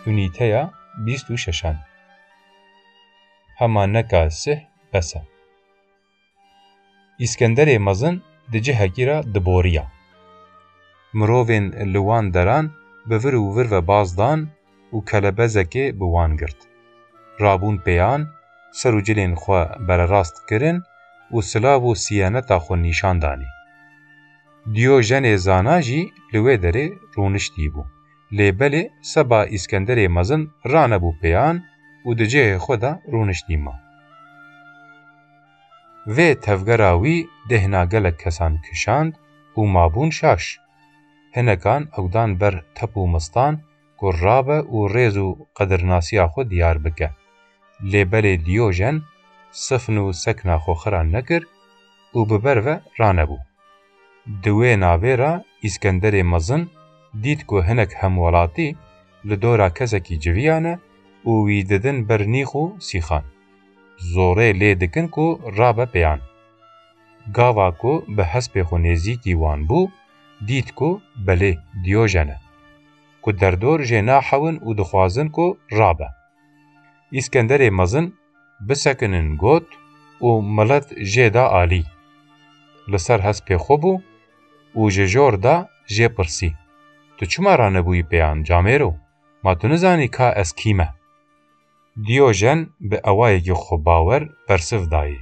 Unîteya bîst û şeşan Hema neka sih bes e. Îskenderê mezin di cihekî re diboriya. Mirovên li wan deran bi vir û vir ve baz dan û kelebezekê bi wan girt. Rabûn pêyan, ser û cilên xwe bererast kirin û silav û siyeneta xwe nîşan danê. Dîyojenê zana jî li wê derê rûniştîbû. Lê belê seba Îskenderê mezin ranebû pêyan û di cihê xwe de rûniştî ma. Vê tevgera wî dêhna gelek kesan kişand û mabûn şaş. Hinekan ew dan ber tep û mistan ku rabe û rêz û qedirnasiya xwe diyar bike. Lê belê Dîyojen sifn û sekna xwe xira nekir û bi ber ve ranebû. Di wê navê re Îskenderê Mezin dît ku hinek hemwelatî li dora kesekî civiya ne û wî didin ber nîx û sîxan. Zorê lê dikin ku rabe pêyan. Gava ku bi hespê xwe nêzîkî wan bû, dît ku belê Dîyojen e, ku derdor jê naxewin û dixwazin ku rabe. Îskenderê mezin bisekinin got û milet jê da alî. Li ser hespê xwe bû û ji jor de jê pirsî, Tu çima ranebûyî pêyan, camêro? Ma tu nizanî ka ez kî me? Diojen bi ewayekî xwebawer bersiv dayê,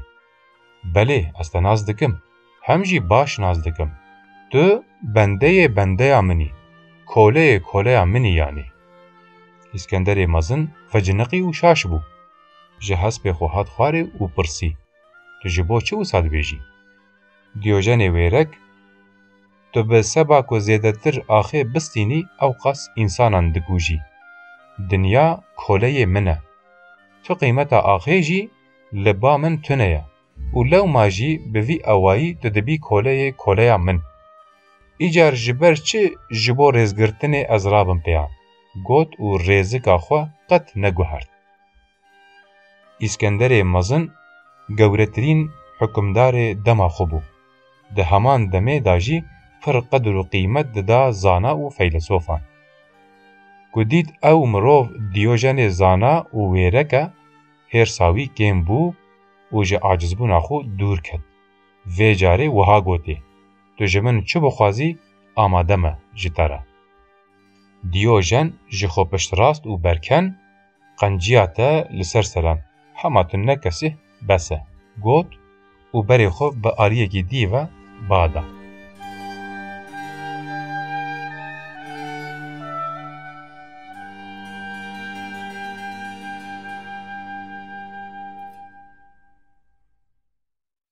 Belê ez te nas dikim, hem jî baş nas dikim. Tu bendeyê bendeya min î, koleyê koleya min î yanî. Îskenderê mezin veciniqî û şaş bû. Ji hespê xwe hat xwarê û pirsî, Tu ji bo çi wisa dibêjî? Diojenê wêrek. Tu bi seba ku zêdetir axê bistînî ewqas însanan dikujî. Dinya koleyê min e. Tu qîmeta axê jî li ba min tune ye û lewma jî bi vî awayî tu dibî koleyê koleya min. Îcar ji ber çi ji bo rêzgirtinê ez rabim pêya? got û rêzika xwe qet neguhert. Îskenderê Mezin gewretirîn hukimdarê dema xwe bû. Di heman demê de jî pir qedir û qîmet dida zana û feylisofan. Ku dît ew mirov Dîyojenê zana û wêrek e, hêrsa wî kêm bû û ji acizbûna xwe dûr ket. Vê carê wiha gotê, Tu ji min çi bixwazî amade me ji te re. Dîyojen ji xwe piştrast û berken, Qenciya te li ser selan. Hema tu ne kesih bes e. Got û berê xwe bi aliyekî dî ve ba da.